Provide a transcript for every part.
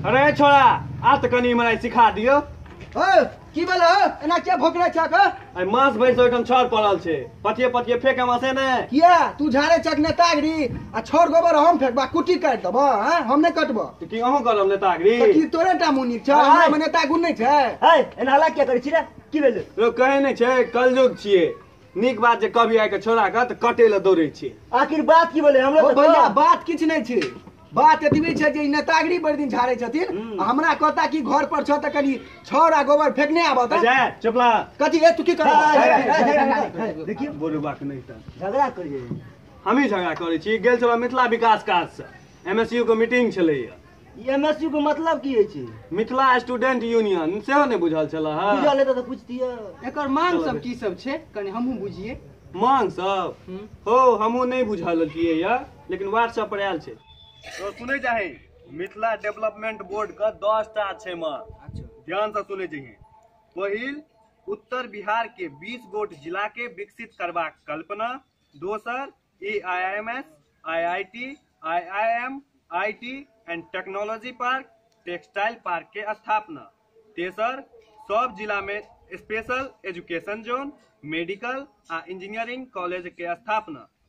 अरे छोड़ा आ तऽ कनि मलाई सिखा दियो ओ की भेल हो एना किया भोकरे छक हो आइ मास भरि से ओहिठाम छड़ पड़ल छै पथिए पथिए फेंक हम हंसे ने किया तू झाड़े चक ने तागरी आ छोड़ गोबर हम फेंकबा कुटी काट देब हैं हम नहीं कटब तो की अहूं करब ने तागरी तो की तोरे टा मुनी छ हाय। हमरा मने तागुन नहीं छै है एना हला क्या करै छी रे की भेल रो कहे ने छे कलयुग छिए नीक बात जे कभी आके छोड़ा के त कटे ले दौड़े छिए आखिर बात की भेलै हमरा ओ तऽ भैया कह। बात किछ नहीं छै बात एतबी छै जे ई नेतागिरी भरि दिन झाड़ै छथिन हम्म। आ हमरा कहता कि घर पर छह तऽ कनि छौर आ गोबर फेकने आबऽ तऽ अजय चपला कथी ए तू की कर देखिए बोलो बात नहीं था झगड़ा करिए हमही झगड़ा करै छी गेल छलहुँ मिथिला विकास काजसँ एम एस यू के मीटिंग छलैए ई एमएसयू के मतलब की होइ छै मिथिला स्टूडेंट यूनियन सेहो नहि बुझल छलए हँ बुझल हेतै तऽ पूछतियै एकर मांग सब की सब छै कनि हमहूँ बुझिए मांग सब हम्म। हो हमहूँ नहि बुझल छियै यऽ लेकिन वार्ड सब पर आयल छै तो सुनै जाही मिथिला डेवलपमेंट बोर्ड के दस टा छै मे अच्छा ध्यान से सुनै जाही पहिल उत्तर बिहार के 20 गोट जिला के विकसित करबाक कल्पना दोसर A I M S I I T I I M I T and technology park textile park के स्थापना तेसर सब जिला में स्पेशल एजुकेशन जोन मेडिकल आ इंजीनियरिंग कॉलेज के स्थापना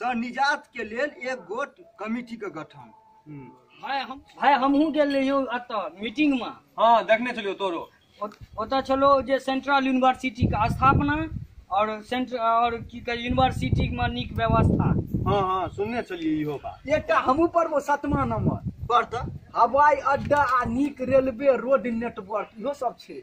सँ निजात के लेल एक गोट कमिटी के गठन भाय हम भाय हमहूँ गेल रहियो एतऽ मीटिंग मे हाँ देखने छलियो तोरो ओत- ओतऽ छलो जे सेंट्रल यूनिवर्सिटी के स्थापना और सेंट्र और की कहे यूनिवर्सिटी मे नीक व्यवस्था हाँ हाँ सुनने छलिए इहो बात एकटा हमहूँ पढ़बो सतमा नंबर पर तऽ हवाई अड्डा आ नीक रेलवे रोड नेटवर्क इहो सब छै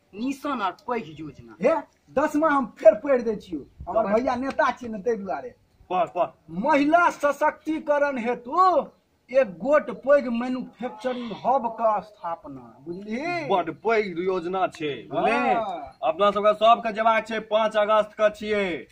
निशान आर पैघ योजना हे दसमा हम फेर पढ़ि दै छियौ हमर तब- भैया नेता छियै ने ताहि दुआरे पढ़ पढ़ महिला सशक्तिकरण हेतु एक गोट पैघ मैन्युफैक्चरिंग हब के स्थापना बुझलिही बड पैघ योजना छै बुझले हाँ। अपना सबके सबके जेबाक छै पाँच अगस्त के छियै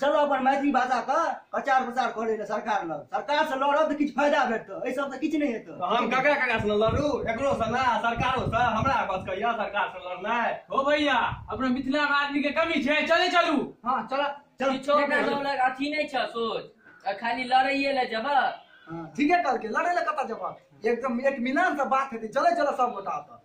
चलो अपन मैथिली भाषा के प्रचार प्रसार करे ले सरकार लग सरकार से लड़ब तऽ किछु फायदा भेटतै एहि सब से किछु नहि हेतै तो हम ककरा ककरा से न लड़ू एकरो से ना सरकारो से हमरा बस कहिया सरकार से लड़नाइ हो भैया अपना मिथिला में आदमी के कमी छै चले चलू हाँ चल चल किछो के सब लग अथी नहीं छ सोच आ खाली लड़ाइए ले जब ठीके कहलकै लड़े ले कतऽ जेबह एकदम एक मिलान से बात हेतै चले चल सब गोटा ओतऽ